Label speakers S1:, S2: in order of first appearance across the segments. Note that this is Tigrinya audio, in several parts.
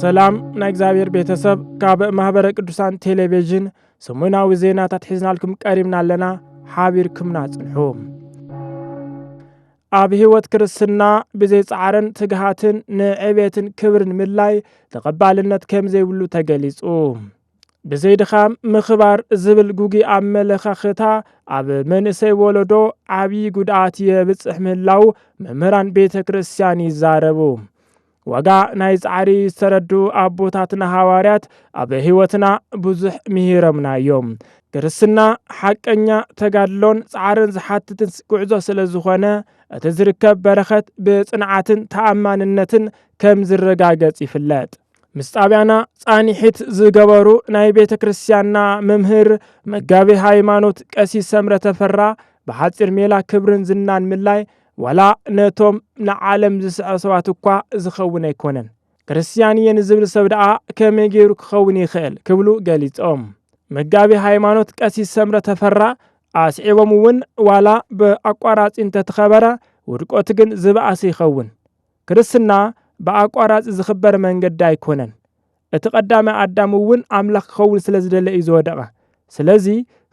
S1: ሰላም ናይ እግዚኣብሔር ቤተሰብ ካብ ማኅበረ ቅዱሳን ቴሌቪዥን ሰሙናዊ ዜናታት ሒዝናልኩም ቀሪብና ኣለና ሓቢርኩምና ጽንሑ ኣብ ሕይወት ክርስትና ብዘይ ጻዕርን ትግሃትን ንዕቤትን ክብርን ምድላይ ተቐባልነት ከም ዘይብሉ ተገሊጹ ብዘይ ድኻም ምኽባር ዝብል ጉጉይ ኣመለኻኽታ ኣብ መንእሰይ ወለዶ ዓብዪ ጉድኣት የብፅሕ ምህላው መምህራን ቤተ ክርስቲያን ይዛረቡ። ዋጋ ናይ ፃዕሪ ዝተረዱ ኣቦታትና ሃዋርያት ኣብ ህይወትና ብዙሕ ምሂሮምና እዮም። ክርስትና ሓቀኛ ተጋድሎን ፃዕርን ዝሓትትን ጉዕዞ ስለ ዝኾነ እቲ ዝርከብ በረኸት ብፅንዓትን ተኣማንነትን ከም ዝረጋገፅ ይፍለጥ። ምስ ጣብያና ፃኒሒት ዝገበሩ ናይ ቤተ ክርስቲያንና መምህር መጋቤ ሃይማኖት ቀሲስ ሰምረ ተፈራ ብሓፂር ሜላ ክብርን ዝናን ምላይ ዋላ ነቶም ንዓለም ዝስዐ ሰባት እኳ ዝኸውን ኣይኮነን። ክርስቲያን እየ ንዝብል ሰብ ደኣ ከመይ ገይሩ ክኸውን ይኽእል ክብሉ ገሊፆም። መጋቤ ሃይማኖት ቀሲስ ሰምረ ተፈራ ኣስዒቦም እውን ዋላ ብኣቋራፂ እንተተኸበረ ውድቆቱ ግን ዝበኣሰ ይኸውን። ክርስትና ብኣቋራጺ ዝኽበር መንገዲ ኣይኮነን። እቲ ቀዳማይ ኣዳም እውን ኣምላኽ ክኸውን ስለ ዝደለ እዩ ዝወደቐ። ስለዚ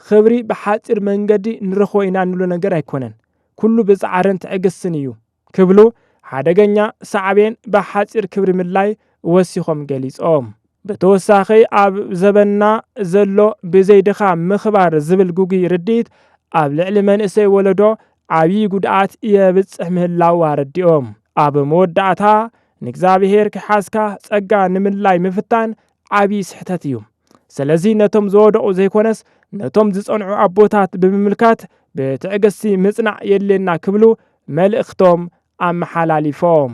S1: ኽብሪ ብሓጺር መንገዲ ንረኽቦ ኢና እንብሎ ነገር ኣይኮነን። ኩሉ ብጻዕርን ትዕግስትን እዩ ክብሉ ሓደገኛ ሳዕቤን ብሓጺር ክብሪ ምድላይ ወሲኾም ገሊጾም። ብተወሳኺ ኣብ ዘበንና ዘሎ ብዘይ ድኻም ምኽባር ዝብል ግጉይ ርድኢት ኣብ ልዕሊ መንእሰይ ወለዶ ዓብዪ ጉድኣት የብፅሕ ምህላው ኣረዲኦም። ኣብ መወዳእታ ንእግዚኣብሔር ክሓዝካ ፀጋ ንምልላይ ምፍታን ዓብዪ ስሕተት እዩ። ስለዚ ነቶም ዝወደቑ ዘይኮነስ ነቶም ዝፀንዑ ኣቦታት ብምምልካት ብትዕግስቲ ምፅናዕ የድልየና ክብሉ መልእኽቶም ኣመሓላሊፎም።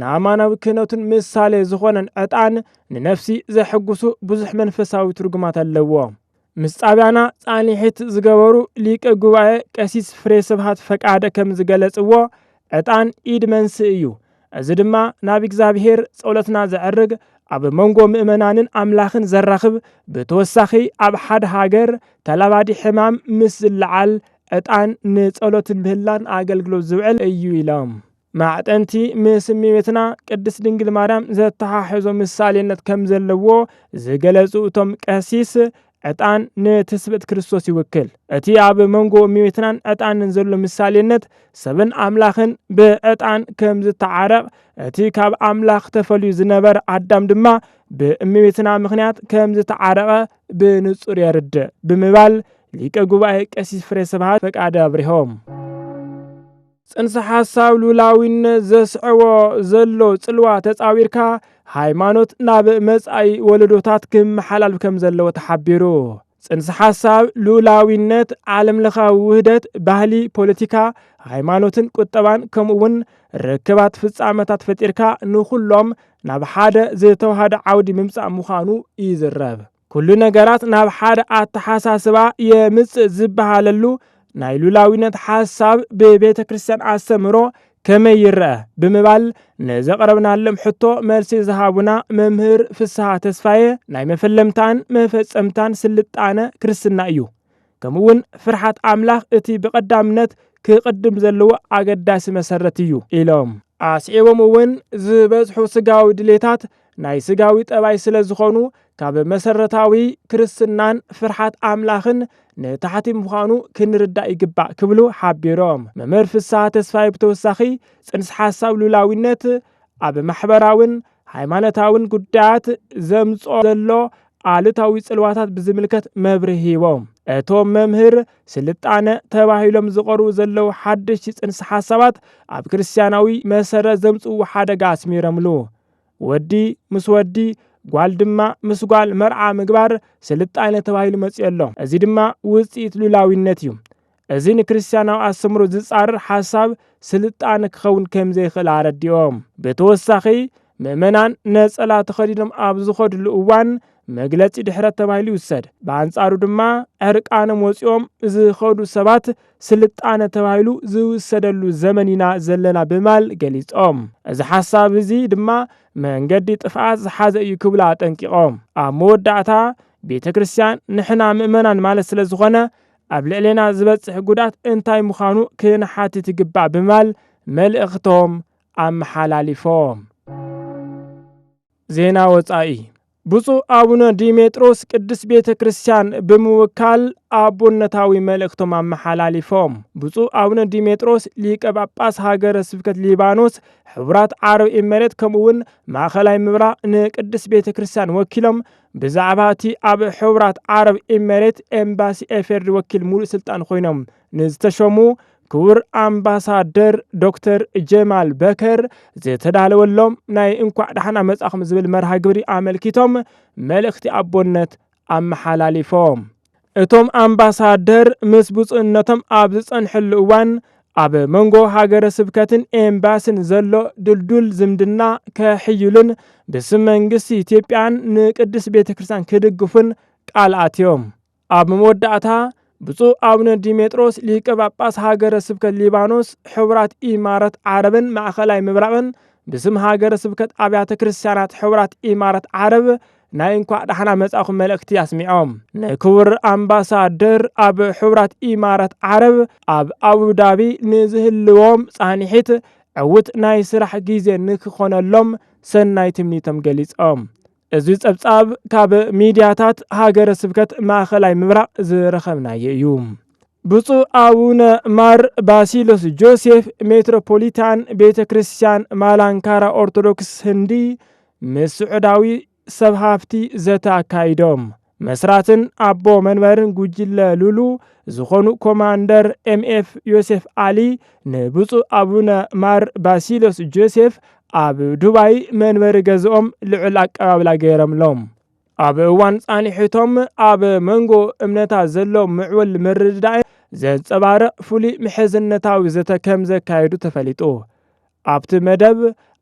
S1: ንኣማናዊ ክህነቱን ምሳሌ ዝኾነን ዕጣን ንነፍሲ ዘሕጉሱ ብዙሕ መንፈሳዊ ትርጉማት ኣለዎ። ምስ ጣብያና ፃኒሒት ዝገበሩ ሊቀ ጉባኤ ቀሲስ ፍሬ ስብሃት ፈቃደ ከም ዝገለፅዎ ዕጣን ኢድ መንስእ እዩ። እዚ ድማ ናብ እግዚኣብሄር ፀሎትና ዘዕርግ ኣብ መንጎ ምእመናንን ኣምላኽን ዘራኽብ ብተወሳኺ ኣብ ሓደ ሃገር ተላባዲ ሕማም ምስ ዝለዓል ዕጣን ንፀሎትን ምህላን ኣገልግሎት ዝውዕል እዩ ኢሎም። ማዕጠንቲ ምስ እመቤትና ቅድስት ድንግል ማርያም ዘተሓሕዞ ምሳሌነት ከም ዘለዎ ዝገለጹ እቶም ቀሲስ፣ ዕጣን ንትስብእት ክርስቶስ ይውክል። እቲ ኣብ መንጎ እመቤትናን ዕጣንን ዘሎ ምሳሌነት፣ ሰብን ኣምላኽን ብዕጣን ከም ዝተዓረቕ፣ እቲ ካብ ኣምላኽ ተፈልዩ ዝነበረ ኣዳም ድማ ብእመቤትና ምኽንያት ከም ዝተዓረቐ ብንጹር የርድእ ብምባል ሊቀ ጉባኤ ቀሲስ ፍሬ ስብሃት ፈቃደ ኣብሪሆም። ጽንሰ ሓሳብ ሉላዊነት ዘስዕቦ ዘሎ ጽልዋ ተጻዊርካ ሃይማኖት ናብ መጻኢ ወለዶታት ክመሓላልፍ ከም ዘለዎ ተሓቢሩ። ጽንሰ ሓሳብ ሉላዊነት ዓለም ለኻዊ ውህደት ባህሊ፣ ፖለቲካ፣ ሃይማኖትን ቁጠባን ከምኡ እውን ርክባት ፍጻመታት ፈጢርካ ንኹሎም ናብ ሓደ ዝተዋሃደ ዓውዲ ምምጻእ ምዃኑ ይዝረብ። ኩሉ ነገራት ናብ ሓደ ኣተሓሳስባ የምጽእ ዝበሃለሉ ናይ ሉላዊነት ሓሳብ ብቤተ ክርስቲያን ኣስተምህሮ ከመይ ይረአ ብምባል ንዘቕረብናሎም ሕቶ መልሲ ዝሃቡና መምህር ፍስሃ ተስፋዬ ናይ መፈለምታን መፈጸምታን ስልጣነ ክርስትና እዩ ከምኡውን ፍርሓት ኣምላኽ እቲ ብቐዳምነት ክቕድም ዘለዎ ኣገዳሲ መሰረት እዩ ኢሎም። ኣስዒቦም እውን ዝበዝሑ ስጋዊ ድሌታት ናይ ስጋዊ ጠባይ ስለ ዝኾኑ ካብ መሰረታዊ ክርስትናን ፍርሓት ኣምላኽን ንታሕቲ ምዃኑ ክንርዳእ ይግባእ ክብሉ ሓቢሮም። መምህር ፍስሃ ተስፋይ ብተወሳኺ ጽንስ ሓሳብ ሉላዊነት ኣብ ማሕበራውን ሃይማኖታውን ጉዳያት ዘምጽኦ ዘሎ ኣሉታዊ ጽልዋታት ብዝምልከት መብርሂ ሂቦም። እቶም መምህር ስልጣነ ተባሂሎም ዝቐርቡ ዘለዉ ሓደሽቲ ጽንሰ ሓሳባት ኣብ ክርስትያናዊ መሰረት ዘምጽእዎ ሓደጋ ኣስሚረምሉ። ወዲ ምስ ወዲ ጓል ድማ ምስ ጓል መርዓ ምግባር ስልጣነ ተባሂሉ መጺኡ ኣሎ። እዚ ድማ ውጽኢት ሉላዊነት እዩ። እዚ ንክርስትያናዊ ኣስተምህሮ ዝጻረር ሓሳብ ስልጣነ ክኸውን ከም ዘይክእል ኣረዲኦም። ብተወሳኺ ምእመናን ነጸላ ተኸዲኖም ኣብ ዝኸድሉ እዋን መግለጺ ድሕረት ተባሂሉ ይውሰድ፣ ብኣንጻሩ ድማ ዕርቃኖም ወጺኦም ዝኸዱ ሰባት ስልጣነ ተባሂሉ ዝውሰደሉ ዘመን ኢና ዘለና ብማል ገሊጾም። እዚ ሓሳብ እዚ ድማ መንገዲ ጥፍኣት ዝሓዘ እዩ ክብሉ ኣጠንቂቖም። ኣብ መወዳእታ ቤተ ክርስቲያን ንሕና ምእመናን ማለት ስለ ዝኾነ ኣብ ልዕሌና ዝበፅሕ ጉድኣት እንታይ ምዃኑ ክንሓትት ይግባእ ብምባል መልእኽቶም ኣመሓላሊፎም። ዜና ወፃኢ ብፁዕ ኣቡነ ዲሜጥሮስ ቅድስት ቤተ ክርስቲያን ብምውካል ኣቦነታዊ መልእኽቶም ኣመሓላሊፎም። ብፁዕ ኣቡነ ዲሜጥሮስ ሊቀ ጳጳስ ሃገረ ስብከት ሊባኖስ፣ ሕቡራት ዓረብ ኤመሬት ከምኡውን ማእኸላይ ምብራቕ ንቅድስት ቤተ ክርስቲያን ወኪሎም ብዛዕባ እቲ ኣብ ሕቡራት ዓረብ ኢሜሬት ኤምባሲ ኤፌድሪ ወኪል ሙሉእ ስልጣን ኮይኖም ንዝተሾሙ ክቡር ኣምባሳደር ዶክተር ጀማል በከር ዝተዳለወሎም ናይ እንኳዕ ዳሕና መጻኹም ዝብል መርሃ ግብሪ ኣመልኪቶም መልእኽቲ ኣቦነት ኣመሓላሊፎም። እቶም ኣምባሳደር ምስ ብፁዕነቶም ኣብ ዝፀንሕሉ እዋን ኣብ መንጎ ሃገረ ስብከትን ኤምባሲን ዘሎ ድልዱል ዝምድና ከሕይሉን ብስም መንግስቲ ኢትዮጵያን ንቅድስት ቤተ ክርስቲያን ክድግፉን ቃል ኣትዮም። ኣብ መወዳእታ ብፁዕ ኣቡነ ዲሜጥሮስ ሊቀ ጳጳስ ሃገረ ስብከት ሊባኖስ፣ ሕቡራት ኢማራት ዓረብን ማእከላይ ምብራቕን ብስም ሃገረ ስብከት ኣብያተ ክርስቲያናት ሕቡራት ኢማራት ዓረብ ናይ እንኳዕ ዳሕና መጻኹም መልእክቲ ኣስሚዖም ንክቡር ኣምባሳደር ኣብ ሕቡራት ኢማራት ዓረብ ኣብ ኣቡዳቢ ንዝህልዎም ጻኒሒት ዕውት ናይ ስራሕ ግዜ ንክኾነሎም ሰናይ ትምኒቶም ገሊጾም እዚ ጸብጻብ ካብ ሚድያታት ሃገረ ስብከት ማእኸላይ ምብራቕ ዝረኸብናዮ እዩ። ብፁዕ ኣቡነ ማር ባሲሎስ ጆሴፍ ሜትሮፖሊታን ቤተ ክርስቲያን ማላንካራ ኦርቶዶክስ ህንዲ ምስ ስዑዳዊ ሰብ ሃፍቲ ዘተ ኣካይዶም። መስራትን ኣቦ መንበርን ጉጅለ ሉሉ ዝኾኑ ኮማንደር ኤምኤፍ ዮሴፍ ኣሊ ንብፁዕ ኣቡነ ማር ባሲሎስ ጆሴፍ ኣብ ዱባይ መንበሪ ገዝኦም ልዑል ኣቀባብላ ገይረምሎም። ኣብ እዋን ፃንሒቶም ኣብ መንጎ እምነታት ዘሎ ምዕቡል ምርድዳእ ዘንፀባርቕ ፍሉይ ምሕዝነታዊ ዘተ ከም ዘካየዱ ተፈሊጡ። ኣብቲ መደብ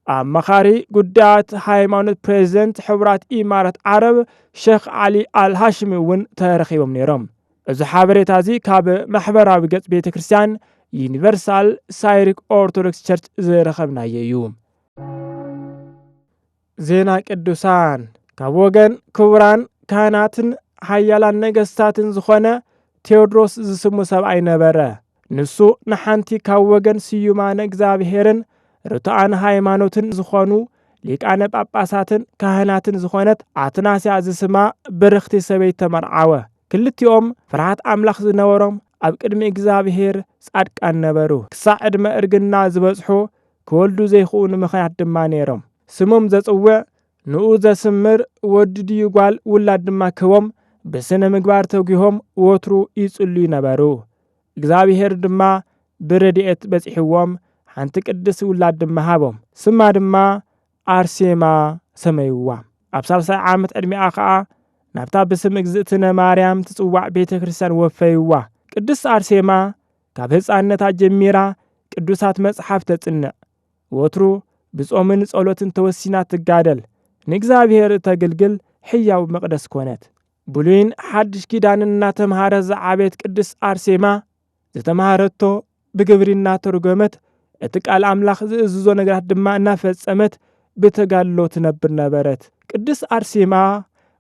S1: ኣማኻሪ ጉዳያት ሃይማኖት ፕሬዚደንት ሕቡራት ኢማራት ዓረብ ሸኽ ዓሊ ኣልሃሽሚ እውን ተረኺቦም ነይሮም። እዚ ሓበሬታ እዚ ካብ ማሕበራዊ ገጽ ቤተ ክርስቲያን ዩኒቨርሳል ሳይሪክ ኦርቶዶክስ ቸርች ዝረኸብናዮ እዩ። ዜና ቅዱሳን ካብ ወገን ክቡራን ካህናትን ሓያላን ነገስታትን ዝኾነ ቴዎድሮስ ዝስሙ ሰብኣይ ነበረ። ንሱ ንሓንቲ ካብ ወገን ስዩማነ እግዚኣብሔርን ርቱዓን ሃይማኖትን ዝኾኑ ሊቃነ ጳጳሳትን ካህናትን ዝኾነት ኣትናስያ ዝስማ ብርኽቲ ሰበይት ተመርዓወ። ክልቲኦም ፍርሃት ኣምላኽ ዝነበሮም ኣብ ቅድሚ እግዚኣብሔር ጻድቃን ነበሩ። ክሳዕ ዕድመ እርግና ዝበጽሑ ክወልዱ ዘይክኡኑ ምኽንያት ድማ ነይሮም። ስሞም ዘጽውዕ፣ ንኡ ዘስምር፣ ወዲ ድዩ ጓል ውላድ ድማ ክህቦም ብስነ ምግባር ተጒሆም ወትሩ ይጽልዩ ነበሩ። እግዚኣብሔር ድማ ብረድኤት በጺሕዎም ሓንቲ ቅድስት ውላድ ድማ ሃቦም። ስማ ድማ ኣርሴማ ሰመይዋ። ኣብ ሳልሳይ ዓመት ዕድሜኣ ከኣ ናብታ ብስም እግዝእትነ ማርያም ትጽዋዕ ቤተ ክርስቲያን ወፈይዋ። ቅድስት ኣርሴማ ካብ ህጻንነታ ጀሚራ ቅዱሳት መጽሓፍ ተጽንዕ፣ ወትሩ ብጾምን ጸሎትን ተወሲና ትጋደል፣ ንእግዚኣብሔር እተግልግል ሕያው መቕደስ ኮነት። ብሉይን ሓድሽ ኪዳንን እናተምሃረት ዝዓበየት ቅድስት ኣርሴማ፣ ዝተማህረቶ ብግብሪ እናተርጎመት፣ እቲ ቃል ኣምላኽ ዝእዝዞ ነገራት ድማ እናፈጸመት ብተጋድሎ ትነብር ነበረት። ቅድስት ኣርሴማ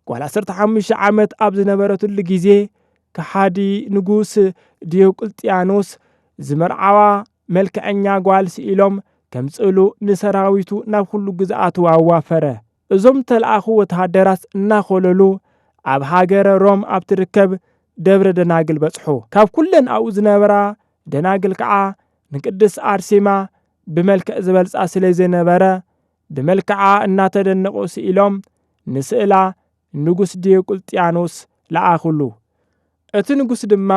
S1: ጓል ዓሰርተ ሓሙሽተ ዓመት ኣብ ዝነበረትሉ ጊዜ ከሓዲ ንጉስ ዲዮቅልጥያኖስ ዝመርዓዋ መልክዐኛ ጓል ስኢሎም ከምጽእሉ ንሰራዊቱ ናብ ኹሉ ግዝኣቱ ኣዋፈረ። እዞም እተልኣኹ ወተሃደራት እናኾለሉ ኣብ ሃገረ ሮም ኣብ ትርከብ ደብረ ደናግል በጽሑ። ካብ ኩለን ኣብኡ ዝነበራ ደናግል ከኣ ንቅድስት ኣርሴማ ብመልክዕ ዝበልጻ ስለዘይነበረ ብመልክዓ እናተደነቑ ስኢሎም ንስእላ ንጉስ ዲዮቅልጥያኖስ ለኣኹሉ። እቲ ንጉስ ድማ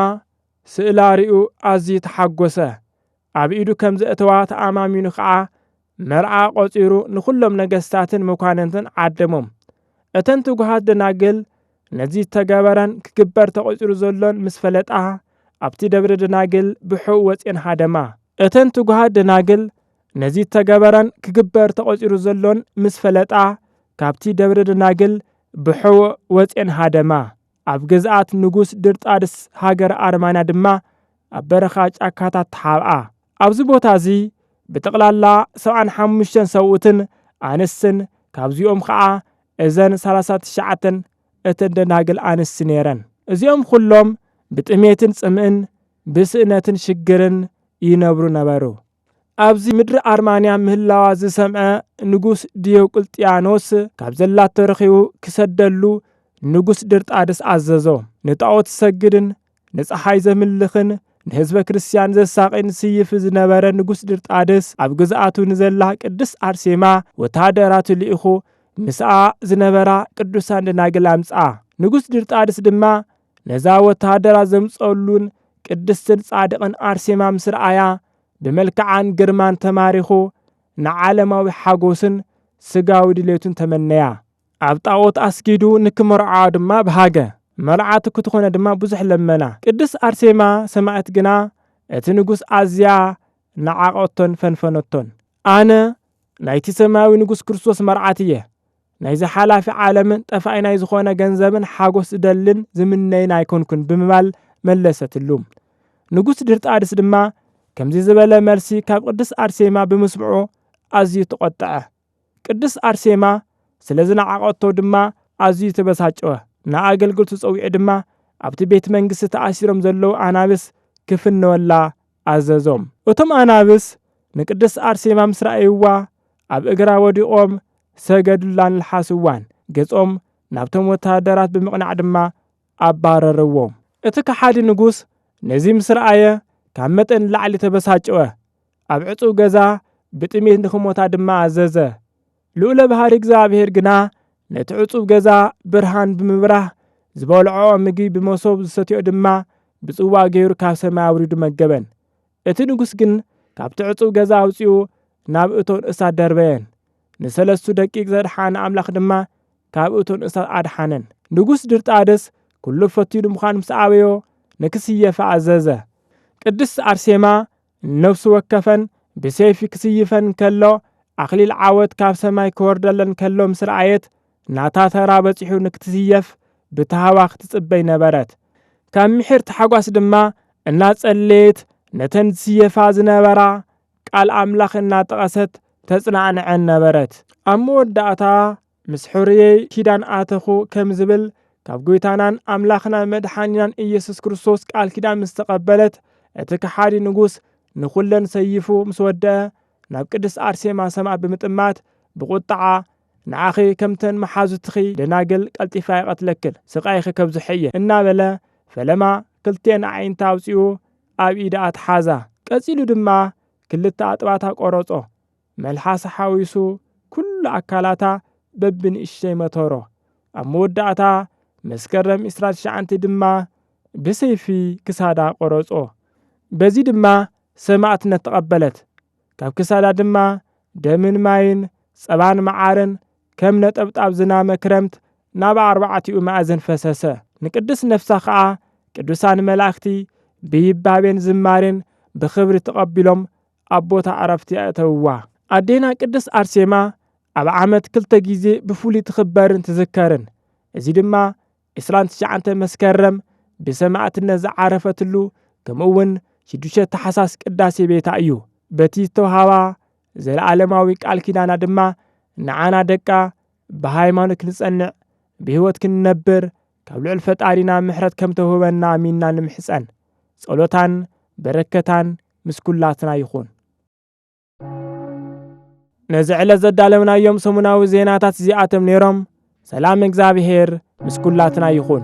S1: ስእላ ርእዩ ኣዝዩ ተሓጐሰ፣ ኣብ ኢዱ ከም ዘእተዋ ተኣማሚኑ ኸኣ መርዓ ቈጺሩ ንዅሎም ነገስታትን መኳንንትን ዓደሞም። እተን ትጉሃት ደናግል ነዚ ዝተገበረን ክግበር ተቘጺሩ ዘሎን ምስ ፈለጣ፣ ኣብቲ ደብረ ደናግል ብሕው ወጺኤን ሃደማ። እተን ትጉሃት ደናግል ነዚ ተገበረን ክግበር ተቖጺሩ ዘሎን ምስ ፈለጣ ካብቲ ደብረ ደናግል ብሕቡእ ወጼን ሃደማ። ኣብ ግዝኣት ንጉስ ድርጣድስ ሃገረ ኣርማንያ ድማ ኣብ በረኻ ጫካታት ተሓብኣ። ኣብዚ ቦታ እዚ ብጠቕላላ ሰብዓን ሓሙሽተን ሰብኡትን ኣንስትን ካብዚኦም ኸኣ እዘን ሰላሳ ትሽዓተን እተን ደናግል ኣንስቲ ነይረን። እዚኦም ኹሎም ብጥሜትን ጽምእን ብስእነትን ሽግርን ይነብሩ ነበሩ። ኣብዚ ምድሪ ኣርማንያ ምህላዋ ዝሰምዐ ንጉስ ዲዮቅልጥያኖስ ካብ ዘላቶ ረኺቡ ክሰደሉ ንጉስ ድርጣድስ ኣዘዞ። ንጣዖት ዝሰግድን ንፀሓይ ዘምልኽን ንህዝበ ክርስትያን ዘሳቒን ስይፍ ዝነበረ ንጉስ ድርጣድስ ኣብ ግዝኣቱ ንዘላ ቅድስት ኣርሴማ ወተሃደራቱ ልኢኹ ምስኣ ዝነበራ ቅዱሳን ደናግል ኣምጽኣ። ንጉስ ድርጣድስ ድማ ነዛ ወተሃደራ ዘምጸሉን ቅድስትን ጻድቕን ኣርሴማ ምስ ረኣያ ብመልክዓን ግርማን ተማሪኹ ንዓለማዊ ሓጎስን ስጋዊ ድሌቱን ተመነያ። ኣብ ጣኦት ኣስጊዱ ንክመርዓዋ ድማ በሃገ። መርዓቱ ክትኾነ ድማ ብዙሕ ለመና። ቅድስት ኣርሴማ ሰማእት ግና እቲ ንጉስ ኣዝያ ነዓቐቶን ፈንፈነቶን። ኣነ ናይቲ ሰማያዊ ንጉስ ክርስቶስ መርዓት እየ። ናይዚ ሓላፊ ዓለምን ጠፋኢ ናይ ዝኾነ ገንዘብን ሓጎስ ዝደልን ዝምነይን ኣይኮንኩን ብምባል መለሰትሉ። ንጉስ ድርጣድስ ድማ ከምዚ ዝበለ መልሲ ካብ ቅድስት ኣርሴማ ብምስምዑ ኣዝዩ ተቖጠዐ። ቅድስት ኣርሴማ ስለ ዝነዓቐቶ ድማ ኣዝዩ ተበሳጨወ። ንኣገልግልቱ ጸዊዑ ድማ ኣብቲ ቤት መንግስቲ ተኣሲሮም ዘለዉ ኣናብስ ክፍንወላ ኣዘዞም። እቶም ኣናብስ ንቅድስት ኣርሴማ ምስ ረኣይዋ ኣብ እግራ ወዲቖም ሰገዱላን ለሓስዋን። ገጾም ናብቶም ወተሃደራት ብምቕናዕ ድማ ኣባረርዎም። እቲ ከሓዲ ንጉስ ነዚ ምስ ረኣየ ካብ መጠን ንላዕሊ ተበሳጨወ። ኣብ ዕጹው ገዛ ብጥሜት ንኽሞታ ድማ ኣዘዘ። ልኡለ ባህሪ እግዚኣብሔር ግና ነቲ ዕጹብ ገዛ ብርሃን ብምብራህ ዝበልዖ ምግቢ ብመሶብ ዝሰትዮ ድማ ብጽዋ ገይሩ ካብ ሰማይ ኣውሪዱ መገበን። እቲ ንጉሥ ግን ካብቲ ዕጹብ ገዛ ኣውጺኡ ናብ እቶን እሳት ደርበየን። ንሰለስቱ ደቂቅ ዘድሓነ ኣምላኽ ድማ ካብ እቶን እሳት ኣድሓነን። ንጉሥ ድርጣደስ ኩሉ ፈቲኑ ምዃን ምስ ኣበዮ ንክስየፋ ኣዘዘ። ቅድስት ኣርሴማ ነፍሲ ወከፈን ብሰይፊ ክስይፈን ከሎ ኣኽሊል ዓወት ካብ ሰማይ ክወርደለን ከሎ ምስ ረኣየት ናታ ተራ በጺሑ ንክትስየፍ ብታህዋኽ ትጽበይ ነበረት። ካብ ምሒር ታሕጓስ ድማ እናጸለየት ነተን ዝስየፋ ዝነበራ ቃል ኣምላኽ እናጠቐሰት ተጽናዕንዐን ነበረት። ኣብ መወዳእታ ምስ ኅርየይ ኪዳን ኣተኹ ከም ዝብል ካብ ጐይታናን ኣምላኽናን መድሓኒናን ኢየሱስ ክርስቶስ ቃል ኪዳን ምስ ተቐበለት እቲ ከሓዲ ንጉስ ንኹለን ሰይፉ ምስ ወደአ ናብ ቅድስት ኣርሴማ ሰማዕ ብምጥማት ብቝጥዓ ንዓኺ ከምተን መሓዙትኺ ደናግል ቀልጢፈ ኣይቐትለክን ስቓይኺ ከብዝሖ እየ እናበለ ፈለማ ክልቲኤን ኣዒንታ ኣውፂኡ ኣብ ኢዳ ኣትሓዛ። ቀፂሉ ድማ ክልተ ኣጥባታ ቈረፆ። መልሓሳ ሓዊሱ ኩሉ ኣካላታ በብንእሽተይ መተሮ። ኣብ መወዳእታ መስከረም ዕስራ ትሽዓተ ድማ ብሰይፊ ክሳዳ ቆረጾ። በዚ ድማ ሰማእትነት ተቐበለት። ካብ ክሳዳ ድማ ደምን ማይን ጸባን መዓርን ከም ነጠብጣብ ዝናመ ክረምት ናብ ኣርባዕቲኡ ማእዝን ፈሰሰ። ንቅድስት ነፍሳ ከኣ ቅዱሳን መላእክቲ ብይባቤን ዝማሬን ብኽብሪ ተቐቢሎም ኣብ ቦታ ዕረፍቲ ኣእተውዋ። ኣዴና ቅድስት ኣርሴማ ኣብ ዓመት ክልተ ግዜ ብፍሉይ ትኽበርን ትዝከርን። እዚ ድማ ዕስራን ትሽዓንተን መስከረም ብሰማእትነት ዝዓረፈትሉ ከምኡ'ውን ሽዱሽተ ታሕሳስ ቅዳሴ ቤታ እዩ። በቲ ዝተውሃባ ዘለኣለማዊ ቃል ኪዳና ድማ ንዓና ደቃ ብሃይማኖት ክንጸንዕ ብህይወት ክንነብር ካብ ልዑል ፈጣሪና ምሕረት ከም ተውህበና ኣሚንና ንምሕጸን። ጸሎታን በረከታን ምስ ኩላትና ይኹን። ነዚ ዕለት ዘዳለውናዮም ሰሙናዊ ዜናታት እዚኣቶም ነይሮም። ሰላም እግዚኣብሔር ምስ ኩላትና ይኹን።